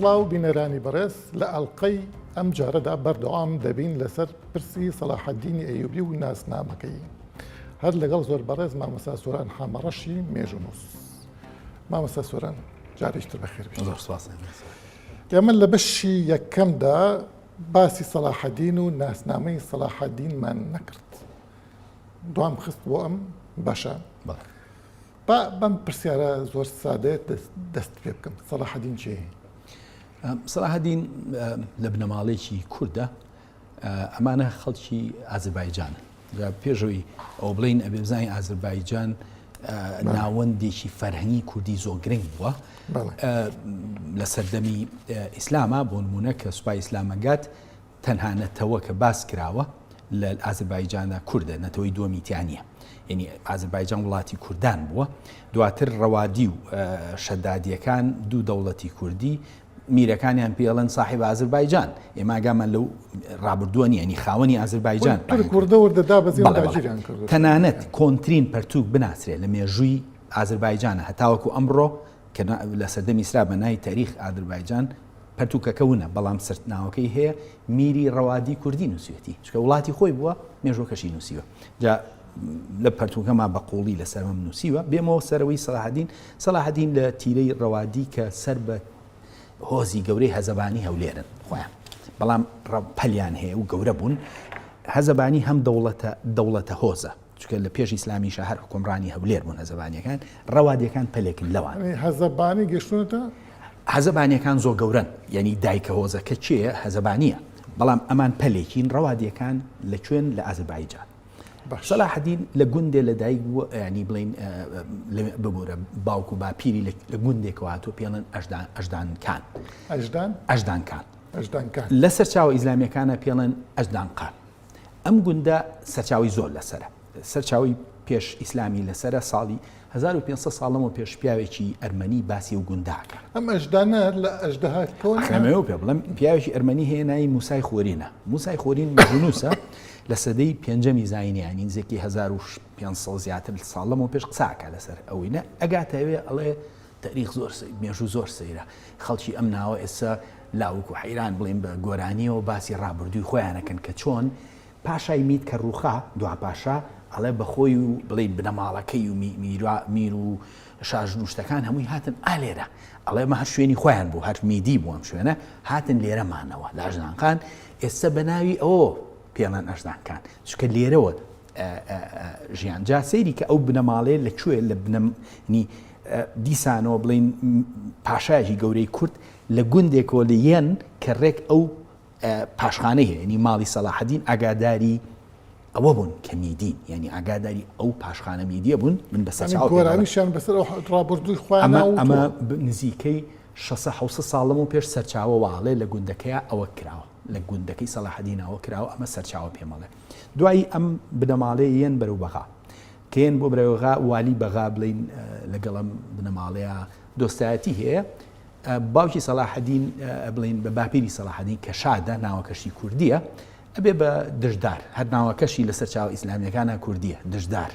سڵاو بینەرانی بەڕێز لە ئەڵلقەی ئەم جارەدا بەردەوام دەبین لەسەر پرسی سەلاحەدینی ئەیوبی و ناسنامەکەی هەر لەگەڵ زۆر بەڕێز مامەسا سۆران حامەڕەشی مێژونووس. مامۆستا سۆران جارێکی تر بەخێربێن. زۆر سوپاس ئەمین سۆران. ئێمە لە بەشی یەکەمدا باسی سەلاحەدین و ناسنامەی سەلاحەدینمان نەکرد. دوام خست بۆ ئەم بەشە. بەڵێ. با بەم پرسیارە زۆر سادەیە دەست- دەست پێ بکەم. سەلاحەدین چییە؟ سەلاحەدین لە بنەماڵەیەکی کوردە ئەمانە خەڵکی ئازربایجانن جا پێشەوەی ئەوە بڵین ئەبێ بزانین ئازربایجان ناوەندێکی فەرهەنگی کوردی زۆر گرنگ بووە لە سەردەمی ئیسلامە بۆ نمونە کە سوپای ئیسلامەگات تەنها نەتەوە کە باس کراوە لە ئازربایجانە کوردە نەتەوەی دووەمیتیانە یعنی ئازربایجان وڵاتی کوردان بووە دواتر ڕەوادی و شەدادیەکان دوو دەوڵەتی کوردی میرەکانیان پێ ئەڵێن ساحێب ئازربایجان ئێمە ئاگامان لەو ڕابردووە نیە نی خاوەنی ئازربایجان تورک وردە وردە دابەزین و بەڵێ بەڵێ داگیریان کردووە تەنانەت کۆنترین پەرتووک بناسرێ لە مێژووی ئازربایجانە هەتاوەکو ئەمڕۆ کە نا لە سەردەمی ئیسرا بە نای تاریخ ئادربایجان پەرتووکەکە ونە بەڵام سرت ناوەکەی هەیە میری ڕەوادی کوردی نووسیوێتی چونکە وڵاتی خۆی بووە مێژووەکەشی نووسیوە جا لە پەرتووکەما بە قووڵی لەسەرم نووسیوە بێمەوە سەرەوەی سەلاحەدین سەلاحەدین لە تیرەی ڕەوادی کە سەر بە هۆزی گەورەی هەزەبانی هەولێرن خۆیان بەڵام پەلیان هەیە و گەورە بوون هەزەبانی هەم دەوڵەتە دەوڵەتە هۆزە چکە لە پێش ئیسلامی شەهر حکومڕانی هەولێر بوون هەزەبانیەکان ڕەوادیەکان پەلێکن لەوان هەزەبانی گەشتونەتە هەزەبانیەکان زۆ گەورن یعنی دایکە هۆزەکە چێە هەزەبانیە بەڵام ئەمان پەلێکین ڕەوادیەکان لە کوێن لە ئازربایجان سەلاحەدین لە گوندێ لە دایک بووە ینی بڵین ببوورە باوک و باپیری لە گوندێکەوە هاتوو پێڵن ئەشدانکان ئەشدانکان لە سەرچاو ئیسلامیەکانە پێڵێن ئەشدانقان ئەم گوندە سەرچاوی زۆر لەسرە سەرچاوی پێش ئیسلامی لەسرە ساڵی هەزار و پێنج سەد ساڵ لەمەو پێش پیاوێکی ئەرمەنی باسی ئەو گوندە ئەکا. ئەم ئەژدا نا لە ئەژدەها کەوە ئەخ نەهات. ئەمەوێ پێ بڵێم پیاوێکی ئەرمەنی هەیە ناوی موسای خۆرینە. موسای خۆرین مەزنووسە لە سەدەی پێنجەمی زاینی یانی نزیکەی هەزار و پێنج سەد زیاتر ساڵ لەمەو پێش قسە ئەکا لەسەر ئەوی نە ئەگاتە ئەوێ ئەڵێ تەریخ زۆر سەی مێژوو زۆر سەیرە خەڵکی ئەم ناوە ئێستا لاوک و حەیران بڵێن بە گۆرانیەوە باسی ڕابردووی خۆیان ئەکەن کە چۆن پاشای مید کە ڕووخا، دوا پاشا، ئەڵێ بە خۆی و بڵێی بنەماڵەکەی و میر و شاژن و شتەکان هەمووی هاتن ئا لێرە، ئەڵێ ئەمە هەر شوێنی خۆیان بوو، هەر میدی بوو ئەم شوێنە، هاتن لێرە مانەوە لە ئەژدانقان، ئێستە بە ناوی ئەوەوە پێڵێن ئەژدانکان، چونکە لێرەوە ژیان، جا سەیری کە ئەو بنەماڵەیە لە کوێ لە بنە نی دیسانەوە بڵێین پاشایەکی گەورەی کورد لە گوندێکەوە لە یەن کە ڕێک ئەو پاشخانی هەیە یەنی ماڵی سەلاحەدین ئاگاداری ئەوە بوون کە میدین یعنی ئاگاداری ئەو پاشخانە میدیە بوون من بە سەرچاو گۆرانیشان بەسەر ڕابردووی خۆیان ئەمە نزیکەی 600 ساڵم و پێش سەرچاوە واڵێ لە گوندەکەی ئەوە کراوە لە گوندەکەی سەلاحدینەوە کراوە ئەمە سەرچاوە پێمەڵێ دوایی ئەم بنەماڵێ یەن بەرەو بەغا کێن بۆ برەوەغا والی بەغا بڵین لەگەڵم بنەماڵەیە دۆستایەتی هەیە باوکی سەلاحەدین بڵین بە باپیری سەلاحەدین کە شادە ناوەکەشی کوردیە ئەبێ بە دژدار هەر ناوەکەشی لەسەر چاو ئیسلامیەکانە کوردیە دژدار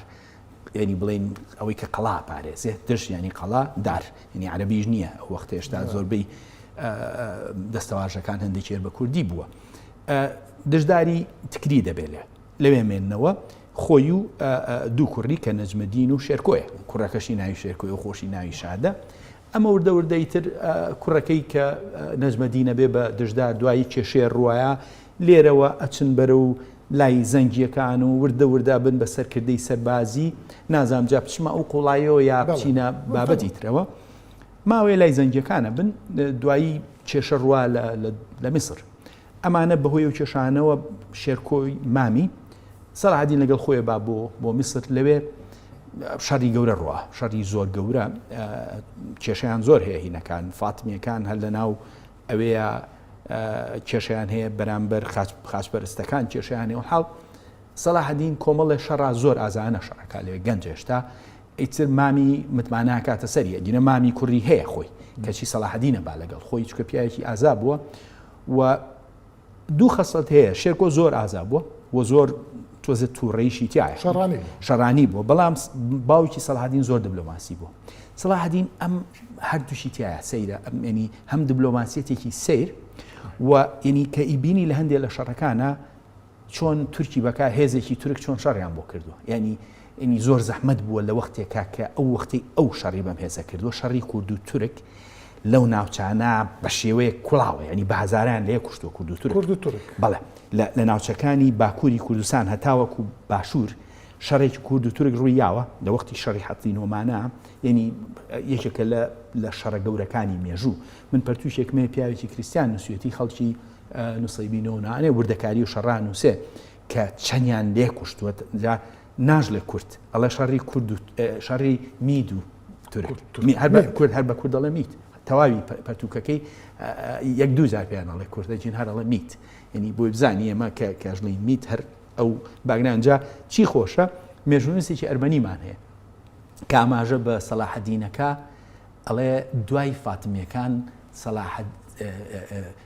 ینی بڵین ئەوەی کە قەڵا پارێزێ دژ ینی قەڵا دار ینی عربیش نییە ئەو وەخت هێشتا زۆربەی دەستەواژەکان هەندێکێر بە کوردی بووە دژداری تکری دەبێت لێ لەوێ مێننەوە خۆی و دوو کوڕی کە نەجمەدین و شێرکۆیە کوڕەکەشی ناوی شێرکۆی و خۆشی ناوی شادە ئەمە وردە وردەی تر کوڕەکەی کە نەجمەدینە بێ بە دژدار دوایی کێشێ ڕواە لێرەوە ئەچن بەرە و لای زەنگیەکان و وردە وردە بن بە سەرکردەی سەربازی نازام جا بچمە ئەو قوڵایەوە یا بچینە بابەتی ترەوە ماوەیە لای زەنگیەکانە بن دوایی کێشە ڕوا لە میسر ئەمانە بەهۆی ئەو کێشانەوە شێرکۆی مامی سەراعدین لەگەڵ خۆی با بۆ بۆ میسر لەوێ شەری گەورە ڕوە شەری زۆر گەورە کێشیان زۆر هەیە هینەکان فاتمیەکان هەر لە ناو ئەوەیە کێشیان هەیە بەرامبەر خاچپەرستەکان کێشیان و حاڵ سەلاحدین کۆمەڵێ شەڕا زۆر ئازانە شەڕەکە لەوێ گەنج هێشتا ئیتر مامی متماناکاتە سەریە گینە مامی کوڕی هەیە خۆی کەچی سەلاحدینە با لەگەڵ خۆی چکە پیاوێکی ئازا بووە و دوو خەسڵەت هەیە شێرکۆ زۆر ئازا بووە و زۆر تۆزە تووڕەیشی تایە شەڕانی شەڕانی بووە بەڵام باوکی سەڵحدین زۆر دبلۆماسی بوو سڵحدین ئەم هەردووشی تایە سەیرە ئەم ینی هەم دبلۆماسیەتێکی سیر و ینی کە ئیبینی لە هەندێک لە شەڕەکانە چۆن تورکی بەکار هێزێکی تورک چۆن شەڕیان بۆ کردووە یعنی ینی زۆر زەحمەت بووە لە وەختێکا کە ئەو وەختی ئەو شەڕی بەم هێزە کردووە شەڕی کورد و تورک لەو ناوچانە بە شێوەیە کوڵاوە ینی بە هزاران لێ کوشت و کورد و تورک کورد و تورک بەڵێ لە ناوچەکانی باکووری کوردستان هەتاوەکو و باشوور شەڕێکی کورد و تورک ڕووی یاوە لە وەختی شەڕی حەتی نۆمانە یعنی یەکێکە لە لە شەڕە گەورەکانی مێژوو من پەرتوشێکمێ پیاوێکی کریسیان نووسەتی خەڵکی نوسەیبی نۆ نانێ وردەکاری و شەڕان نووسێ کە چەندیان لێ کوشتووە جا ناژڵێ کورد ئەڵێ شەڕی کورد شەڕی مید و کورد هەر بە کورد دەڵێ میت تەواوی پەرتوکەکەی یەک دوو جار پێیان ئەڵێ کوردە جین هەرڵە میت یعنی بۆی بزانانی ئەمە کە کەژڵی میت هەر ئەو باگرانجا چی خۆشە مێژونوسێکی ئەرمەنیمان هەیە کاماژە بە سەلاحەدینەکە ئەڵێ دوای فاتمیەکان سەلاحەد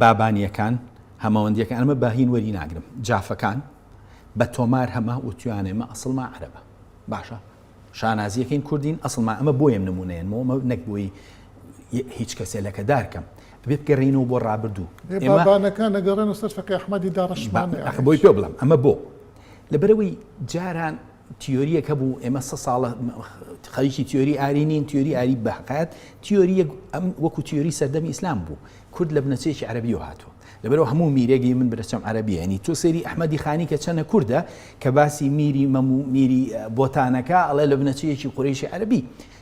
بابانیەکان، هەمەوەندیەکان، ئەمە بە هین وەری ناگرم، جافەکان، بە تۆمار هەمە وتویان ئێمە ئەسڵما عەرەبە. باشە شانازیەکەین کوردین ئەسڵما ئەمە بۆیم نمونەیەن مۆمە نەک بۆی هیچ کەسێ لەکە دارکەم بێ بگەڕینەوە بۆ ڕابردوو بابانەکان نەگەڕێن سەر فەقی ئەحمەدی داڕشمان بۆی پێ بڵم ئەمە بۆ لەبەرەوەی جاران تیۆرییەک هەبوو ئێمە سە ساڵە خەریکی تیۆری ئاری نین تیۆری ئاری بەقات تیۆریەک ئەم وەکو تیۆری سەردەمی ئیسلام بوو کورد لە بنەچەیەکی عربی و هاتووە لەبەرەوە هەموو میرێگەی من برەچەم عربیانی تۆ سێری ئەحمەدی خانی کە چەنە کووردە کە باسی میری مەمو میری بۆتانەکە ئەڵێ لە بنەچەیەکی قورێشی عربی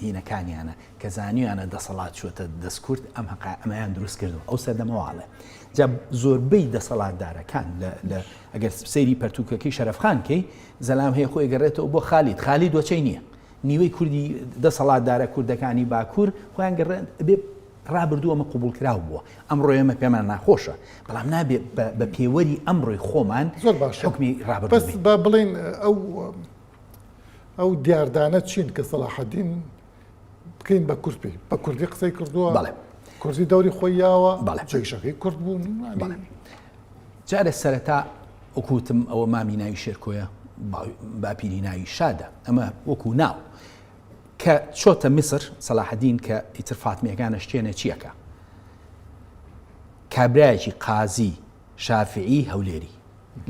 دینەکانیانە کە زانیویانە دەسەڵات چووەتە دەست کورد ئەم هەقا ئەمەیان دروست کردو ئەو سەردەمەواڵێ جا زۆربەی دەسەڵاتدارەکان لە ئەگەر سپسەری پەرتوکەکەی شەرفخان کەی زەلام هەیە خۆی گەڕێتەوە بۆ خالیت خالی دۆچەی نییە نیوەی کوردی دەسەڵاتدارە کوردەکانی باکوور خۆیان گەڕێن بێ ڕابردووە مە قوبول کراو بووە ئەم ڕۆێمە پێمان ناخۆشە بەڵام نابێت بە پێوەری ئەم ڕۆی خۆمان زۆر باش حکمی ڕابرد بڵین ئەو ئەو دیاردانە چین کە سەلاحەدین بکەین بە کورد پێی بە کوردی قسەی کردووە بەڵێ کوردی دەوری خۆی یاوە بەڵێ جێشەکەی کورد بوون بەڵێ جارێ سەرەتا وەکوتم ئەوە مامی ناوی شێرکۆیە باپیری ناوی شادە ئەمە وەکو ناو کە چۆتە میسر سەلاحدین کە ئیتر فاتمیەکانە شتێنە چیەکە کابراایکی قازی شافعی هەولێری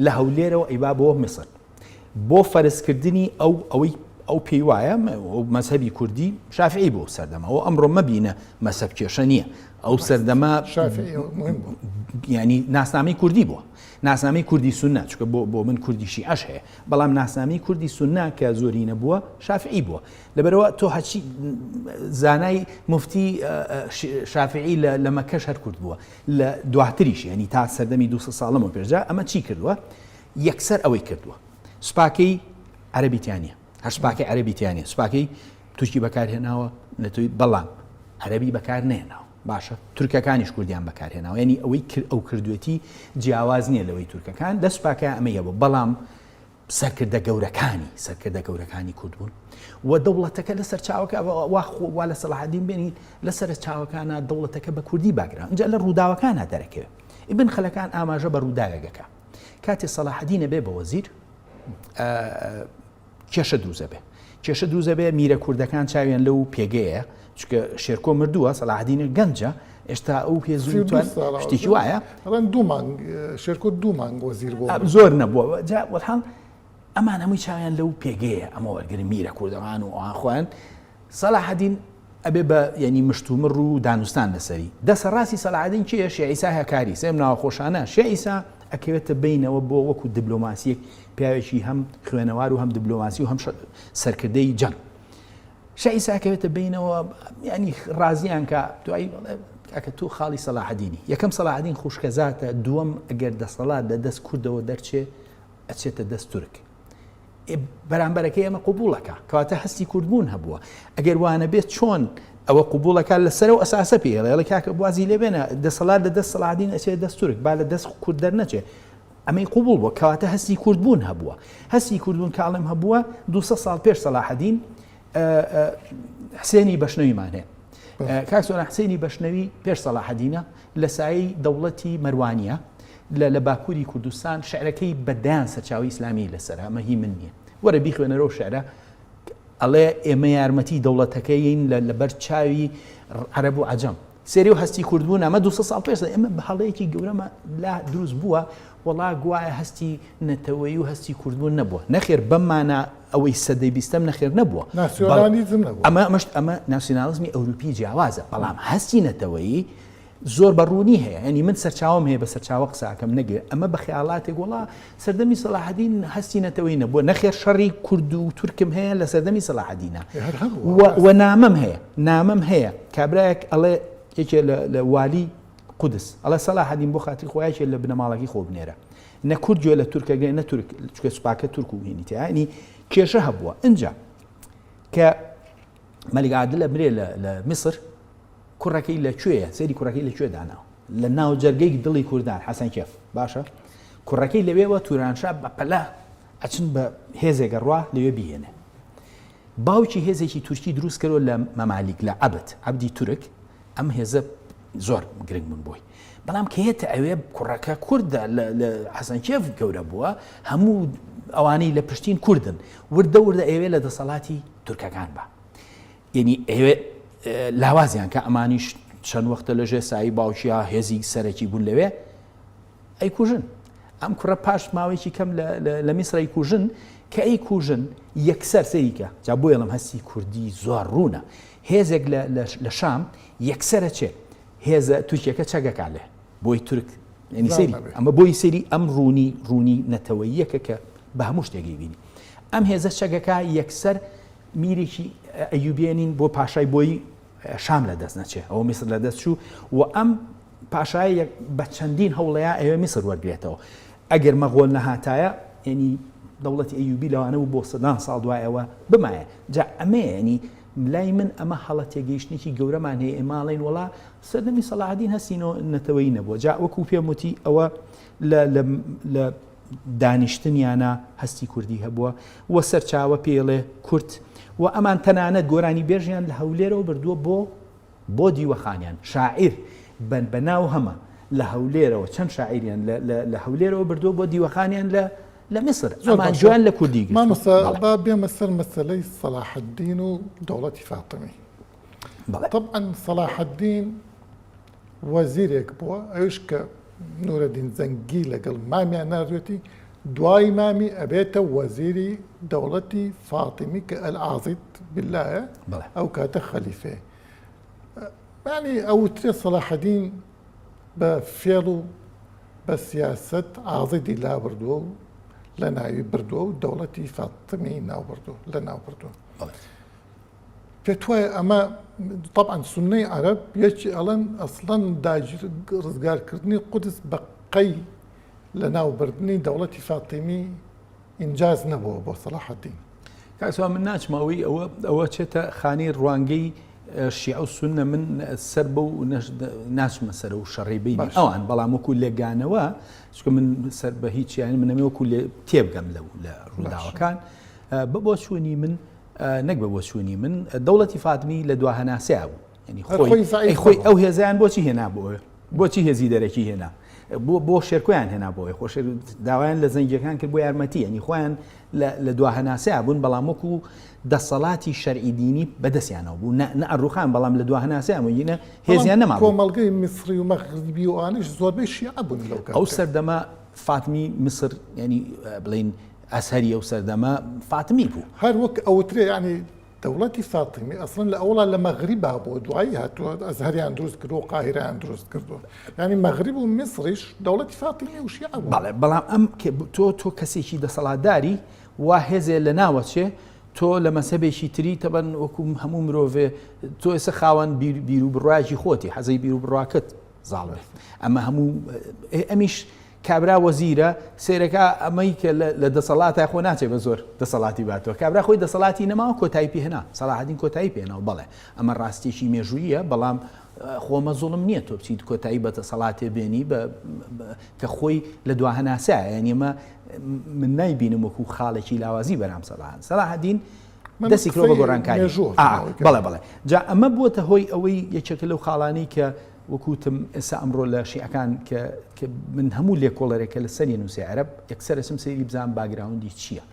لە هەولێرەوە ئیبا بۆ میسر بۆ فەرزکردنی ئەو ئەوەی ئەو پێی وایە مەذهبی کوردی شافعی بۆ سەردەمە ئەو ئەمڕۆ مەبینە مەسەب کێشە نییە ئەو سەردەما ینی ناسنامەی کوردی بووە ناسنامەی کوردی سنە چکە بۆ بۆ من کوردیشی ئەش هەیە بەڵام ناسنامەی کوردی سنە کە زۆری نەبووە شافعی بووە لەبەرەوە تۆ هەچی زانای مفتی شافعی لە مەکەش هەر کورد بووە لە دواتریش ینی تا سەردەمی دو ساڵەمە پێشدا ئەمە چی کردووە یەکسەر ئەوەی کردووە سوپاکەی عەرەبی تیا نیە هەر سوپاکەی عەرەبی تیا نیە سوپاکەی تورکی بەکارهێناوە نەتوی بەڵام عەرەبی بەکار نێناوە باشە تورکەکانیش کوردیان بەکارهێناوە ینی ئەوەی کرد ئەو کردوێتی جیاواز نییە لەوەی تورکەکان لە سوپاکە ئەمەیە بۆ بەڵام سەرکردە گەورەکانی سەرکردە گەورەکانی کورد بوون و دەوڵەتەکە لە سەرچاوەکە واخوا لە سەڵحدین بێنی لە سەر چاوەکانە دەوڵەتەکە بە کوردی باگران جا لە ڕووداوەکانە دەرەکەوێت ئیبن خەلەکان ئاماژە بە ڕووداوێگەکە کاتێ سەلاحەدین ئەبێ بە وەزیر کێشە دروست ئەبێ کێشە دروست ئەبێ میرە کوردەکان چاویان لەو پێگەیە چکە شێرکۆ مردووە سەلاحدینە گەنجە ئێستا ئەو پێزیشتێکی وایە ڕەن دوومان شێرکۆ دوومان بۆ زیر بۆ زۆر نەبووە جا وەڵحاڵ ئەمان هەمووی چاویان لەو پێگەیە ئەمە وەرگری میرە کوردەوان و ئەوان خۆیان سەلاحەدین ئەبێ بە یەنی مشتومڕ و دانوستان لەسەری. دەسە ڕاستی سەلاحەدین کێیە شێعیسا هەکاری سێم ناوە خۆشانە شێعیسا ئەکەوێتە بەینەوە بۆ وەکو دبلۆماسیەک پیاوێکی هەم خوێنەوار و هەم دبلۆماسی و هەم سەرکردەی جەنگ شێعیسا ئەکەوێتە بەینەوە یعنی ڕازیان کە دوایی ئەکە تو خاڵی سەلاحەدینی یەکەم سەلاحەدین خوشکەزاتە دووەم ئەگەر دەسەڵات لە دەست کوردەوە دەرچێ ئەچێتە دەست تورک بەرامبەرەکە ئێمە قوبولەکە کەواتە هەستی کوردبوون هەبووە ئەگەر وانە بێت چۆن ئەوە قوبولەکە لەسەر و ئەساسە پێڵێڵە کاکە بازی لێبێنە دەسەڵات لە دەست سەڵادین ئەچێت دەستورک با لە دەست کورد دەرنەچێت ئەمەی قوبول بووە کەواتە هەستی کوردبوون هەبووە هەستی کوردبوون کاڵم هەبووە 200 ساڵ پێش سەلاحدین حسێنی بەشنەویمان هەیە کاکسۆنا حسێنی بەشنەوی پێش سەلاحدینە لە سایی دەوڵەتی مەروانە لە لە باکوری کوردستان شعرەکەی بە دەیان سەرچاوەی ئیسلامیی لەسەرە ئەمە هی من نییە وەرە بیخوێنەرە و شعرە ئەڵێ ئێمە یارمەتی دەوڵەتەکەیین لە لەبەر چاوی عەرەب و عەجەم سێری و هەستی کوردبوون ئەمە دو ساڵ پێش ئێمە بە هەڵەیەکی گەورەمە لا دروست بووە وڵا گوایە هەستی نەتەوەی و هەستی کوردبوون نەبووە نەخێر بەمانە ئەوەی سەدەی بیستەم نەخێر نەبووە ئەمە ئەمەشت ئەمە ناسیۆنالیزمی ئەوروپی جیاوازە بەڵام هەستی نەتەوەیی زۆر بە ڕوونی هەیە یانی من سەرچاوەم هەیە بە سەرچاوە قساکەم نەگوێ ئەمە بە خەیاڵاتێک وڵا سەردەمی سەلاحدین هەستی نەتەوەی نەبووە نەخێر شەڕی کورد و تورکم هەیە لە سەردەمی سەلاحدینە و نامەم هەیە نامەم هەیە کابراەک ئەڵێ یەکێ لە والی قودس ئەڵە سەلا حەدیم بۆ خاتی خۆیاکێ لە بنەماڵەکی خۆ بنێرە نە کورد گوێ لە تورکەگە نە تورک چکە سوپاکە تورک و هێنیتیانی کێشە هەبووە ئەجا کە مەلیگادلە برێ لە میسر کوڕەکەی لە کوێیە؟ سەیری کوڕەکەی لە کوێ داناوە؟ لە ناوجەرگەی دڵی کوردان حەسەن کێف باشە کوڕەکەی لەوێوە تورانشا بە پەلە ئەچن بە هێزێکە ڕوا لەوێ بیێنێ باوکی هێزێکی تورکی دروست کەەوە لە مەمالیک لە عبد عبدی تورک ئەم هێزە زۆر گرنگ بوون بۆی بەڵام کەێتە ئەوێ کوڕەکە کووردە لە حەسەنکێف گەورە بووە هەموو ئەوانەی لە پشتین کوردن وردە وردە ئەوێ لە دەسەڵاتی تورکەکان بە یەنی ئەیەوێ لاوازیان کە ئەمانیش چەند وەختە لە ژێ سایی باوکیا هێزی سەرەکی بوون لەوێ ئەی کوژن ئەم کوڕە پاش ماوەیەکی کەم لە میسرای کوژن کە ئەی کوژن یەکسەر سەریکە جا بۆ یڵم هەستی کوردی زۆر ڕوونە هێزێک لە شام یەکسرە چێ هێزە تورکیەکە چەگەکە لێ بۆی تورک سری ئەمە بۆی سری ئەم ڕوونی ڕوونی نەتەوەیەکە کە بە هەموو شتێکی بینی ئەم هێزە چەگەکە یەکسەر میرێکی ئەیوبێنین بۆ پاشای بۆی شام لە دەست نەچێ ئەو میسر لە دەست چوو و ئەم پاشایە بە چەندین هەوڵەیە ئەوێ میسر وەرگێتەوە ئەگەر مەغۆل نەهاتایە ینی دەوڵەتی ئەیوبی لەوانە و بۆ سەدان ساڵ دوایەوە بمایە جا ئەمەیەنی لای من ئەمە هەڵە تێگەیشتێکی گەورەمان هەیە ئێماڵین وڵا سەردەمی سەلاحدین هەستی نەتەوەی نەبووە جا وەکو پێموتی ئەوە لە دانیشتنیانا هەستی کوردی هەبووە و سەرچاوە پێیڵێ کورد و ئەمان تەنانەت گۆرانی بێژیان لە هەولێرەوە بردووە بۆ بۆ دیوەخانیان شاعیر بەن بە ناو هەمە لە هەولێرەوە چەند شاعریان لە هەولێرەوە بردووە بۆ دیوەخانیان لە لە میسر زۆرمان جوان لە کوردی مامۆستا با بێمە سەر مەسلەی سەلاحدین و دەوڵەتی فاتمی تەبعەن سەڵاحەدین وەزیرێک بووە ئەویش کە نورەدین زەنگی لەگەڵ مامیان ناردوێتی دوای مامی ئەبێتە وەزیری دەوڵەتی فاتیمی کە ئەلعازیت بلایە ئەو کاتە خەلیفێ بانی ئەوترێ سەڵاحەدین بە فێڵ و بە سیاست ئازیدی لابردووە و لە ناوی بردووە و دەوڵەتی فاتمی ناوبردو لە ناوبردووە پێتوایە ئەمە طبعاً سنەی عەرەب یەکی ئەڵەن ئەسڵەن داگیر ڕزگارکردنی قودس بە قەی لە ناوبردنی دەوڵەتی فاتیمی ئینجاز نەبووە بۆ سەڵاحەدین کاسوا من ناچمەوەی ئەوە ئەوە چێتە خانی ڕوانگەی شیع و سنە من سەر بە و ناچمە سەر و شەڕی بین ئەوان بەڵام وەکو لێگانەوە چکە من سەر بە هیچیان منەمە وەکو لێ تێبگەم لە لە ڕووداوەکان بە بۆ چوونی من نەک بە بۆچوونی من دەوڵەتی فاتمی لە دوا هەناسەیە بوو ینی خۆی خۆی ئەو هێزیان بۆچی هێنا بۆ بۆچی هێزی دەرەکی هێنا بۆ بۆ شێرکۆیان هێنا بۆی خۆش داوایان لە زەنگەکان کرد بۆ یارمەتی ینی خۆیان لە دوا هەناسەیە بوون بەڵام وەکو دەسەڵاتی شەرعی دینی بەدەستیانەوە بوو نە ئەڕوخان بەڵام لە دوا هەناسەیە مەگینە هێزیان نەما کۆمەڵگەی میسری و مەغربی و ئانیش زۆربەی شیعە بوون لەو ئەو سەردەمە فاتمی میسر ینی بڵین ئەزهەری ئەو سەردەمە فاتمی بوو. هەر وەک ئەوترێ یانی دەوڵەتی فاتمی ئەسڵەن لە ئەوڵا لە مەغریبا بووە دوایی هاتووە ئەزهەریان دروست کردووە و قاهیرەیان دروست کردووە یانی مەغریب و میسڕیش دەوڵەتی فاتمی و شیعە بوو. بەڵێ بەڵام ئەم کە تۆ تۆ کەسێکی دەسەڵاتداری وا هێزێ لە ناوەچێ تۆ لە مەزهەبێکی تری تەبەن وەکو هەموو مرۆڤێ تۆ ئێستا خاوەن بیروبڕاکی خۆتی حەزەی بیروبڕاکت زاڵ بێت ئەمە هەموو ئەمیش کابرا وەزیرە سەیرەکە ئەمەی کە لە دەسەڵاتە خۆ ناچێ بە زۆر دەسەڵاتی باتەوە کابرا خۆی دەسەڵاتی نەماوە کۆتایی پێهێنا سەلاحەدین کۆتایی پێێنەوە بەڵێ ئەمە ڕاستێکی مێژوویە بەڵام خۆمە زوڵم نییە تۆ بچیت کۆتایی بە دەسەڵاتێ بێنی کە خۆی لە دوا هەناسایە یان ئێمە من نایبینم وەکو خاڵێکی لاوازی بەرام سەلاحان سەلاحدین دەستی کرۆ بە گۆڕانکاری بەڵێ بڵێ جا ئەمە بووە هۆی ئەوەی یەکێکە لەو خاڵانی کە وەکو وتم ئێستا ئەمڕۆ لە شیعەکان کە کە من هەموو لێکۆڵەرێک کە لەسەری نووسێ عەرەب یەکسەر ئەچم سەیری بزانم باگراوندی چییە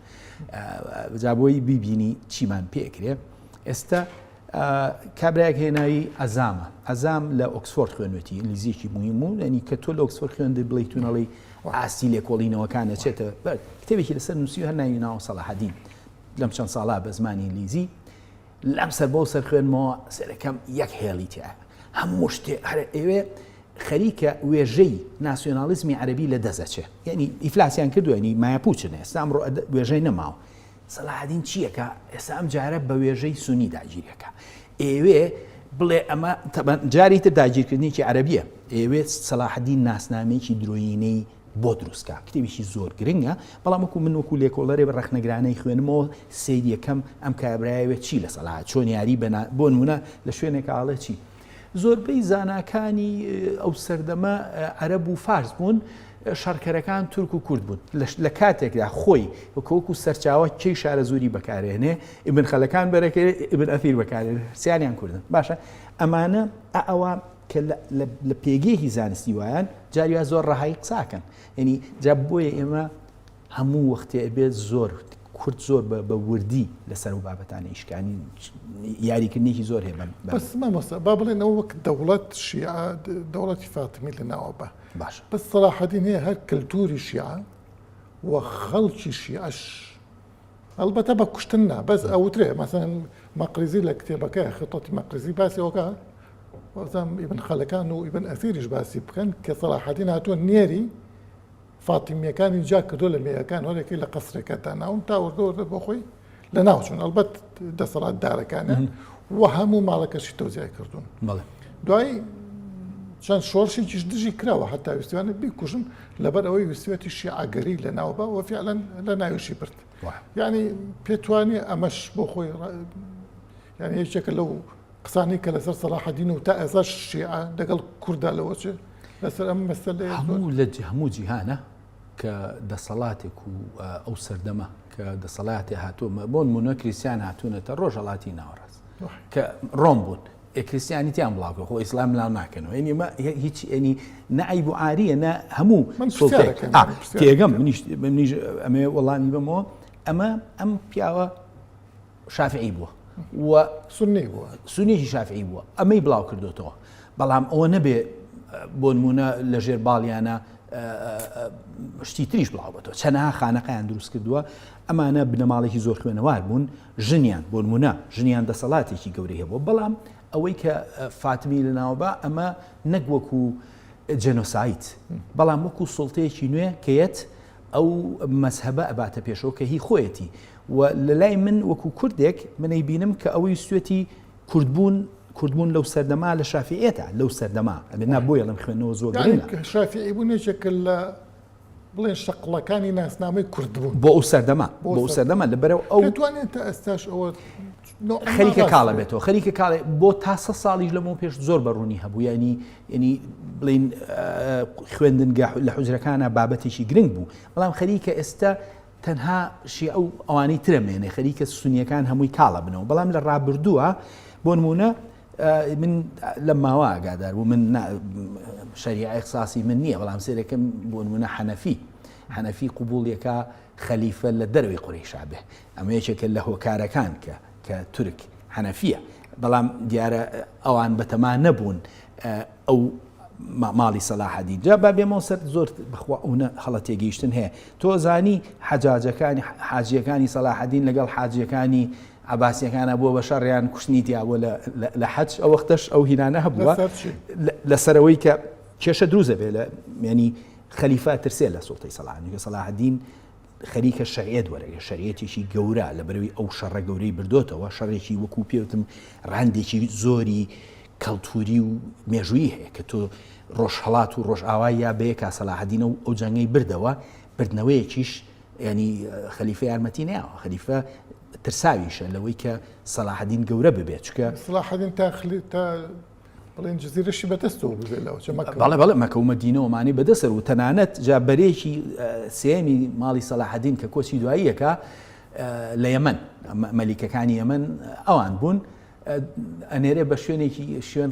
جا بۆی بیبینی چیمان پێ ئەکرێ ئێستا کابراەک هێنایی ئەزامە ئەزام لە ئۆکسفۆرد خوێنێتی ئینگلیزیەکی مویم و ئەنی کە تۆ لە ئۆکسفۆر خوێندی بڵی تونەڵی ئاستی لێکۆڵینەوەکانە چێتە بەر کتێبێکی لەسەر نووسی هەر ناوی ناوە سەڵاحدین لەم چەند ساڵا بە زمانی ئینگلیزی لەم سەر بەو سەر خوێنمەوە سەرەکەم یەک هێڵی تیا هەموو شتێ هەرە ئێوێ خەریکە وێژەی ناسیۆنالیزمی عەربی لە دەزەچێ یعنی ئیفلاسیان کردوێنی مایپوچنێ ئێستام ڕۆ وێژەی نەماوە سەلاحدین چییەکە ئێستا ئەم جارە بە وێژەی سونی داگیریەکە ئێوێ بڵێ ئەمە جاری تر داگیرکردنیی عەربیە ئێوێ سەلاحدین ناسنامەیەکی درۆینەی بۆ دروست کا کتێبیشی زۆر گرنگە بەڵام وەکو من وەکو لێکۆڵەرێ بە ڕەخنەگرانەی خوێنمەوە سید یەکەم ئەم کابراەوە چی لە سەلا چۆن یاری بەنا بۆ نمونە لە شوێنێک ئاڵێ چی زۆربەی زاناکانی ئەو سەردەمە عەرب و فارس بوون شەڕکەرەکان تورک و کورد بوون لە کاتێکدا خۆی وەکۆکو سەرچاوە کێی شارە زوری بەکارێنێ ئبن خەلەکان بەرەکە ئبن ئەفیر بەکارێن سیانیان کوردن باشە ئەمانە ئەوە کە لە پێگەیەکی زانستی وایان جاری وا زۆر ڕەهایی قسە ئەکەن یعنی جا بۆیە ئێمە هەموو وەختێ ئەبێت زۆر کورد زۆر بە وردی لەسەر و بابەتانی ئیشکانی یاریکردنێکی زۆر هەیە بەم بەس مامۆستا با بڵێنەوە وەک دەوڵەت شیعە دەوڵەتی فاتمی لە ناوە بە باش بەس سەڵاحەدین هەیە هەر کللتوری شیعە و خەڵکی شیعەش ئەڵبەتە بە کوشتن نا بەس ئەوترێ مەسەن مەقریزی لە کتێبەکەی خطۆتی مەقریزی باسی ئەوکە وەزم ئیبن خەلەکان و ئیبن ئەسیریش باسی بکەن کە سەڵاحەدین هاتووە نێری فاتیمیەکانی جا کردو لە مێیەکان هەرێکی لە قەسرەکە تا ناون تا وردەوردە بۆ خۆی لە ناوچون ئەلبەت دەسەڵات دارەکانە و هەموو ماڵەکەشی تۆزیای کردوون دوای چەند شۆرشێکیش دژی کراوە هەتا ویستوانە بیکوژن لەبەر ئەوەی ویستوێتی شیعەگەری لە ناو بە وە فعلەن لە ناویشی برد ینی پێتوانێ ئەمەش بۆ خۆی یان یەکێکە لەو قسانی کە لەسەر سەلاحدین و تا ئێستا شیعە دەگەڵ کووردا لەوەچێ لەسەر ئەم مەسە لە هەموو لە هەموو جیهانە کە دەسەڵاتێک و ئەو سەردەمە کە دەسەڵاتی هاتوومە بۆن مونە کریسیان هاتوونەتە ڕۆژەڵاتی ناوەڕاست کە ڕۆم بوون ئێ کریستیانیتیان بڵاوکە خۆ ئیسلام بلاو ناکەنەوە یعنی ئەمە هیچ یعنی نە عیب و عاریە نە هەموو من سوڵتەیە پرسیارێکم آ، پرسیارێکم. تێگەم منیش منیش ئەمێ وەڵامی بەمەوە ئەمە ئەم پیاوە شافعی بووە و سنی بووە سنیشی شافعی بووە ئەمەی بڵاو کردوتەوە بەڵام ئەوە نەبێ بۆ نمونە لە ژێر باڵیانە شتی تریش بڵاو بەتەوە چەنەها خانەقیان دروست کردووە ئەمانە بنەماڵێکی زۆر خوێنەوار بوون ژنیان، بۆنمونە ژنیان دەسەڵاتێکی گەورەی هەبووە، بەڵام ئەوەی کە فاتمی لەناوبا ئەمە نەک وەکو جێنۆساید، بەڵام وەکو سوڵتەیەکی نوێ کە یەت ئەو مەزهەبە ئەباتە پێشەوە کە هی خۆیەتی و لەلای من وەکو کوردێک من ئەیبینم کە ئەوەی ویستوێتی کوردبوون کوردبوون لەو سەردەما لە شافیعێتە لەو سەردەما ئەبێ نا بۆیە ئەڵێم خوێندنەوە زۆر گرنگە. شافیعی بوون یەکێکە لە بڵێن شەقڵەکانی ناسنامەی کورد بوون بۆ ئەو سەردەمە بۆ ئەو سەردەمە لەبەرەوە ئەو دەتوانێت تا ئێستاش ئەوە خەریکە کاڵە بێتەوە خەریکە کاڵێ بۆ تا سە ساڵیش لەمەوە پێش زۆر بەڕوونی هەبوو ینی ینی بڵین خوێندنگە لە حوجرەکانە بابەتێکی گرنگ بوو بەڵام خەریکە ئێستا تەنها شی ئەو ئەوانەی ترەمێنێ خەریکە سونیەکان هەمووی کاڵە بنەوە بەڵام لە ڕابردووە بۆ نمونە من لەم ماوە ئاگادار بوو من شەریعە اخساسی من نییە بەڵام سێرەکەم بۆ نمونە حەنەفی حەنەفی قوبوڵیەکە خەلیفە لە دەروی قڕیشابێ ئەمە یەکێکە لە هۆکارەکان کە کە تورک حەنەفیە بەڵام دیارە ئەوان بەتەما نەبوون ئەو ماڵی سەلاحەدی جا با بێمەوە سەر زۆر بخوا ئەوە هەڵە تێگەیشتن هەیە تۆزانی حەجاجەکانی حاجیەکانی سەلاحەدین لەگەڵ حاجیەکانی عەباسیەکانە بووە بە شەڕ یان کوشتنی تیابووە لە لە حەج ئەو وەختەش ئەو هینانە هەبووە لەسەر ئەوەی کە کێشە دروست دەبێت لە یانی خەلیفە ترسێ لە سوڵتەی سەڵاحەدینکە سەڵاحەدین خەریکە شەریعەت وەرەگە شەریەتێکی گەورە لە بەروی ئەو شەڕە گەورەی بردۆتەوە شەڕێکی وەکو پێوتم ڕاندێکی زۆری کەڵتوری و مێژووی هەیە کە تۆ ڕۆژهڵات و ڕۆژئاوا یا بەیە کا سەلاحدینە و ئەو جەنگەی بردەوە بردنەوەیەکیش ینی خەلیفە یارمەتی ناوە خەلیفە ترساویشە لەوەی کە سەلاحەدین گەورە ببێت چکە سلاحدین تاخلی تا بڵێن جززیرەشی بەدەستەوە بێ لەەوە بەڵێ بەڵێ مەکەومە دینەوەمانی بەدەسەر و تەنانەت جا بەرێکی سێمی ماڵی سەلاحدین کە کۆچی دواییەکە لە یەمەن مەلیکەکانی یەمەن ئەوان بوون ئەنێرێ بە شوێنێکی شوێن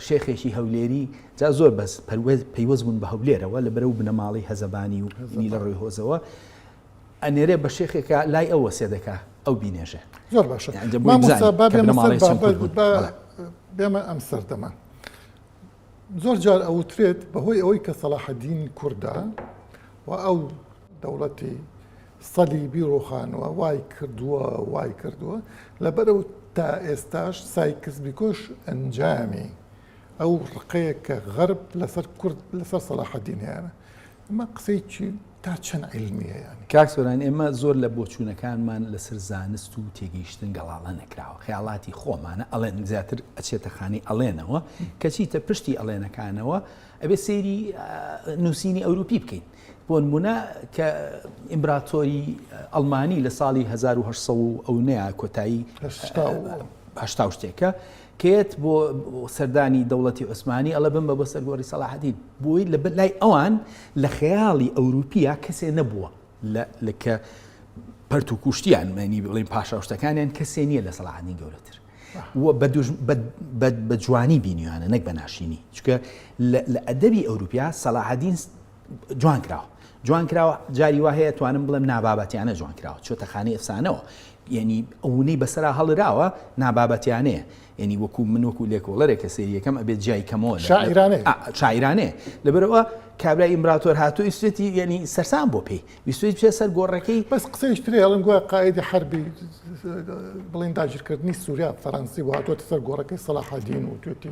شێخێکی هەولێری جا زۆر بەس پەروێز پەیوەست بوون بە هەولێرەوە لە بەرەو بنەماڵی هەزەبانی و لە ڕووی هۆزەوە ئەنێرێ بە شێخێکا لای ئەو وەسێ دەکا ئەو بینێژێ زۆر باشە بێمە ئەم سەردەمە زۆر جار ئەوترێت بەهۆی ئەوەی کە سەڵاحەدین کووردا و ئەو دەوڵەتی سەلی بیرۆخانەوە وای کردووە وای کردووە لەبەرەو تا ئێستاش سایکس بیکۆش ئەنجامی ئەو ڕقەیە کە غەرب لەسەر کورد لەسەر سەلاحەدینیانە ئەمە قسەی چی تا چەند علمیە یانی کاک سۆران ئێمە زۆر لە بۆچوونەکانمان لەسەر زانست و تێگەیشتن گەڵاڵە نەکراوە خەیاڵاتی خۆمانە ئەڵێن زیاتر ئەچێتە خانی ئەڵێنەوە کەچیتە پشتی ئەڵێنەکانەوە ئەبێ سێری نووسینی ئەوروپی بکەین بۆ نمونە کە ئیمبراتۆری ئەلمانی لە ساڵی 1970 ئەو نەیە کۆتایی هشتا شتێکە کێت بۆ سەردانی دەوڵەتی عوسمانی ئەڵێ بمبە بۆ سەرگۆری سەلاحەدین بۆی لە لای ئەوان لە خەیاڵی ئەوروپیا کەسێ نەبووە لە کە پەرت و کوشتیان مەنی بڵێن پاشاوشتەکانیان کەسێ نییە لە سەلاحەدین گەورەتر بە جوانی بینیوانە نەک بە ناشینی چکە لە ئەدەبی ئەوروپیا سەلاحەدین جوان کراوە جوان کراوە جاری وا هەیە توانم بڵێم نابابەتیانە جوان کراوە چۆتە خانی ئەفسانەوە یعنی ئەوونەی بەسرا هەڵراوە نابابەتیانەیە یعنی وەکو من وەکو لێکۆڵەرێک کە سریەکەم ئەبێت جای کەمەوە شاعرانێ لەبەرەوە کابرای ئیمبراتۆر هاتو ئیسوێتی یعنی سەرسان بۆ پێی ویسوێت پێ سەر گۆڕەکەی بەس قسەیش ترێ هەڵم گووە قاعدی حربی بڵین داگیرکردنی سووریا فەرەنسی وهاتۆتە سەر گۆڕەکەی سەلاحدین و توێتی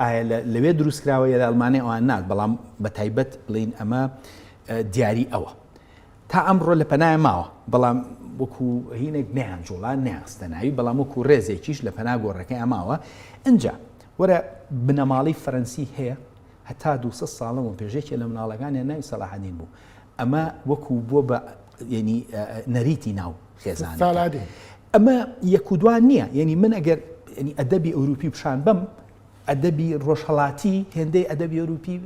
ئایا لەوێ دروستکراوە یا لە ئەڵمانیا ئەوان نات بەڵام بە تایبەت بڵین ئەمە دیاری ئەوە تا ئەمڕۆ لە پەنای ماوە بەڵام وەکو هینێک نیان جوڵان نیاستە ناوی بەڵام وەکو ڕێزێکیش لە پەنا گۆڕەکەی ئەماوە ئەجا وەرە بنەماڵی فەرەنسی هەیە هەتا دو ساڵەوە پێشێکی لە مناڵەکانیان ناوی سەلاحدین بوو ئەمە وەکو بووە بە یعنی نەریتی ناو خێزانەکە ئەمە یەک و دوان نییە یعنی من ئەگەر ینی ئەدەبی ئەوروپی پیشان بم ئەدەبی ڕۆژهڵاتی هێندەی ئەدەبی ئەوروپی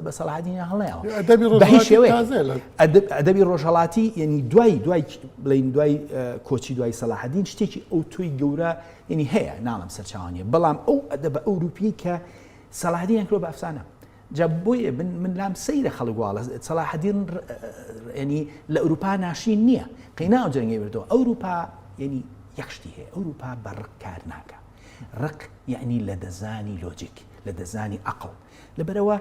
بە سەڵادینە هەڵەیەوە ئەدەبی ڕۆژهڵاتی یعنی دوای دوای بڵین دوای کۆچی دوای سەلاحدین شتێکی ئەو تۆی گەورە یعنی هەیە ناڵم سەرچوانیە بەڵام ئەو ئەدەبە ئەوروپی کە سەلادیان کرۆ بە ئەفسانە جا بۆیە من من لام سەیرە خەڵک واڵە سەلاحەدین ینی لە ئەوروپا ناشرین نییە قەینا ئەو جەنگی بردەوە ئەوروپا ینی یەک شتی هەیە ئەوروپا بە ڕق کار ناکە ڕق یعنی لە دەزانی لۆجیک لە دەزانی عقل لەبەرەوە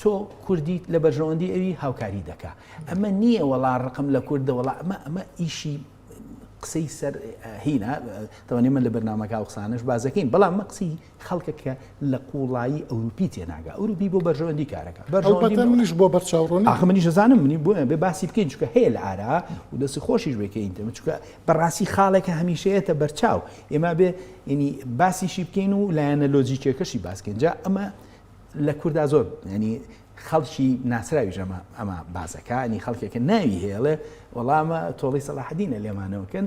تۆ کوردیت لە بەرژەوەندی ئەوی هاوکاری دەکا ئەمە نییە وەڵا ڕقم لە کوردە وڵا ئەمە ئەمە ئیشی قسەی سەر هینا تەوانێمە لە بەرنمەکە قسانش بازەکەین بەڵام مەقسی خەڵکە کە لە قوڵایی ئەوروپی تێناگا ئەوروپی بۆ بەرژەوەندی کارەکە بەرژەوەندی منیش بۆ بەرچاوڕۆنی ئاخ منیش دەزانم منی بۆ بێ باسی بکەین چکە هەیە لە ئارا و دەستی خۆشیش بکەین دەمە چکە بەڕاستی خاڵێکە هەمیشەیەتە بەرچاو ئێمە بێ ینی باسیشی بکەین و لایەنە لۆجیکێکەشی باسکەین جا ئەمە لە کووردا زۆر ینی خەڵکی ناسراوی ژەمە ئەمە بازەکانی خەڵکێکە ناوی هێڵێ وەڵامە تۆڵی سەلاحدینە لێمانەوەکەن